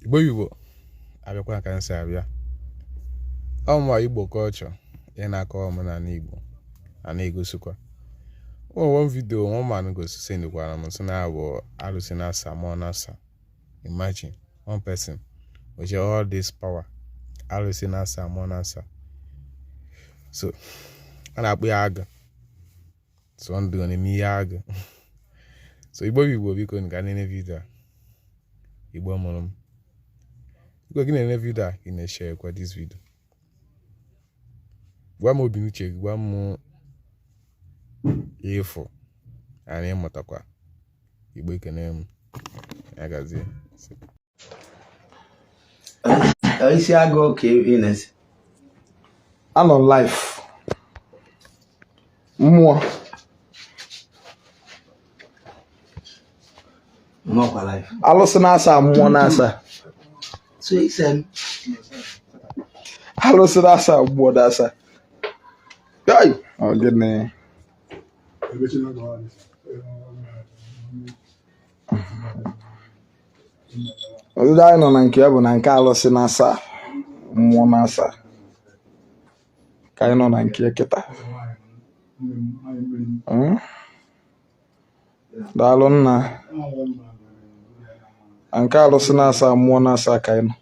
igbo igbo abịakwa ka m si abịa ọmụma igbo culture ị na-akọ omenala igbo a na-egosikwa one video one man gosi sendikwara m sị na ọ bụ arụsị na asaa mụọ na asaa imagine one person with all this power arụsị na asaa mụọ na asaa so a na-akpụ ya aga so ndụ ọ na-eme ihe agụ so igbo bụ igbo biko ngị na-ene video a igbo mụrụ m biko gị na-ene video a gị na-esharekwa this video gwa m obi n'uche gị gwa m ife anyị mụtakwa igbo ekene m ya gazie isi agụ ka ị na-esi anọ live mmụọ alụsị na asaa mmụọ na asaa alụsị na asaa mmụọ na asaa gịnị ọdịda anyị nọ na nke ya bụ na nke alụsị na asaa mmụọ na asaa ka anyị nọ na nke kịta hmm? daalụ nna na nke alụsị na asaa mmụọ na asaa ka anyị nọ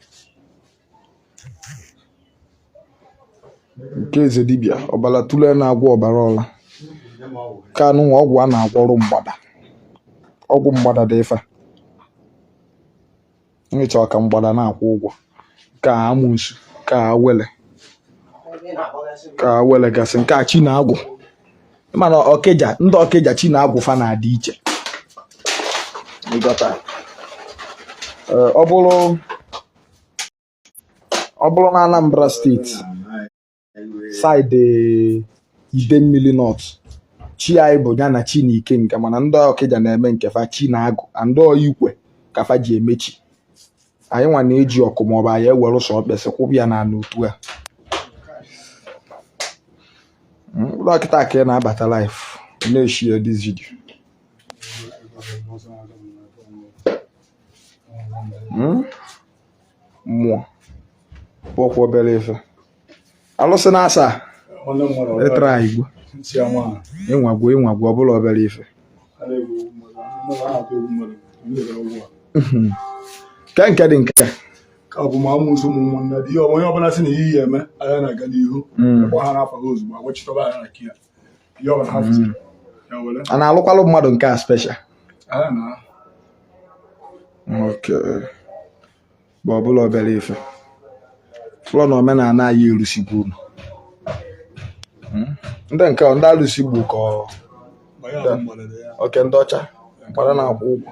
nke eze dibịa ọbara tụle na-agwọ ọbara ọla ka anụnwa ọgwụ a na-agwọrụ mgbada ọgwụ mgbada dị ife nyecha ọka mgbada na-akwụ ụgwọ ka amusu ka awele ka awele gasị nke a chi na agwụ mana Ọkịja ndị Ọkịja chi na agwụ fa na-adị iche ọ bụrụ ọ bụrụ na Anambra State side Idemmili North chi anyị bụ ya na chi na Ikenga mana ndị Ọkịja na-eme nke fa chi na agwụ and ọ ikwe ka fa ji eme chi anyị nwa na-eji ọkụ maọbụ anyị ewere ụsọ okpesi kwụba ya n'ala otu a hmm, kịta ka ị na-abata live na-eshare this video hmm? mmụọ abụrọkwa obere ife alụsị na asaa ịtara e igbo inwe agwụ inwe agwụ ọ bụrọ obere ife hmm. ke nke dị nke ka ọ bụ ma amusu ụmụnne dị ihe onye ọbụla si na ihe ya eme anya na-aga n'ihu hmm. gbahara afa ha ozugbo agwachitọba anya na kia Mm. a na-alụkwalụ mmadụ nke a special bụ ọbụla obere ife fọlụ na omenala anyị erusigbu unu hmm? ndị nke ndị alụsị gbu ka oke ndị ọcha mkpara na-akwụ ụgwọ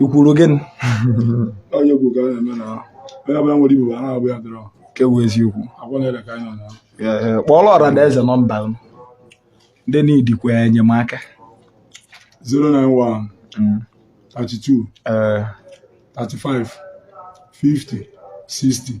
ikwuru gịnị onye bụ ka a na-eme na onye ọbụla nwere ibu a na-abụ ya dọrọ nke bụ eziokwu akwa na-ere ka anyị nọ na Ee, ee, kpọọrọ ọra na eze nọmba unu ndị needikwa enyemaka 091 Mm, 32 ee, 35 50 60